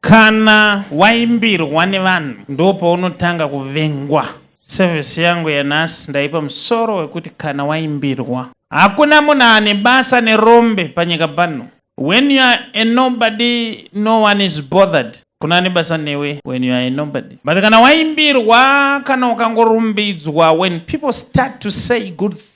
Kana waimbirwa nevanhu ndipo paunotanga kuvengwa. Sevhisi yangu yanhasi ndaipa musoro wekuti kana waimbirwa. Hakuna munhu ane basa nerombe panyika pano. When you are a nobody, no one is bothered. Kuna ane basa newe when you are a nobody. But kana waimbirwa, kana ukangorumbidzwa, when people start to say good things,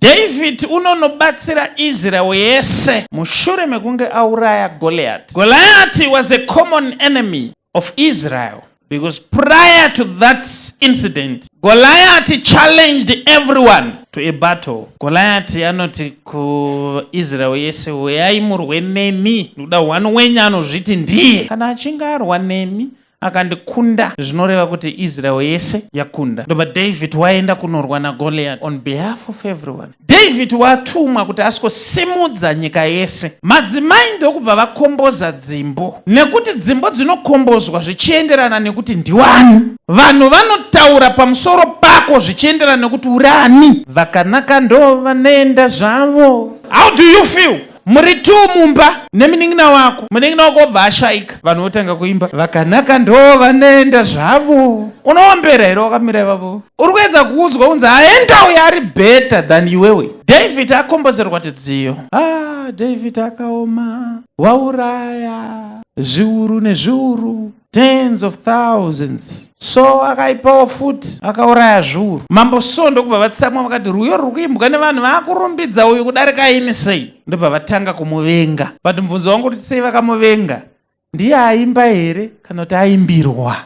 David unonobatsira Israel yese mushure mekunge auraya Goliath. Goliath was a common enemy of Israel because prior to that incident Goliath challenged everyone to a battle. Goliath anoti kuIsrael yese uyai murwe nemi, ndoda one wenyu anozviti ndiye. Kana achinge arwa nemi akandikunda zvinoreva kuti israel yese yakunda ndobva david waenda kunorwa nagoliat on behalf of everyone david watumwa kuti asikosimudza nyika yese madzimai ndokubva vakomboza dzimbo nekuti dzimbo dzinokombozwa zvichienderana nekuti ndiwani vanhu vanotaura pamusoro pako zvichienderana nekuti urani vakanaka ndo vanoenda zvavo how do you feel muri two mumba neminin'ina wako munin'ina wako obva ashaika vanhu votanga kuimba vakanaka ndoo vanoenda zvavo unoombera here wakamira ivavo uri kuedza kuudzwa unzi aenda uyo ari better than iwewe david akombozerwa tidziyo ah, david akaoma wauraya zviuru nezviuru tens of thousands so akaipawo futi akauraya zviuru mambo so ndokubva vatsamwa vakati rwiyo ruri kuimbwa nevanhu vaakurumbidza uyu kudarika ini sei ndobva vatanga kumuvenga but mubvunzo wangu kuti sei vakamuvenga ndiye aimba here kana kuti aimbirwa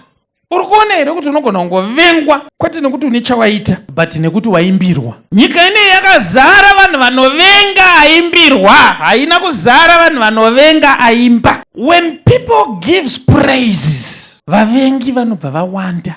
uri kuona here kuti unogona kungovengwa kwete nekuti une chawaita but nekuti waimbirwa nyika inei yakazara vanhu vanovenga aimbirwa haina kuzara vanhu vanovenga aimba When people gives praises, vavengi vanobva vawanda.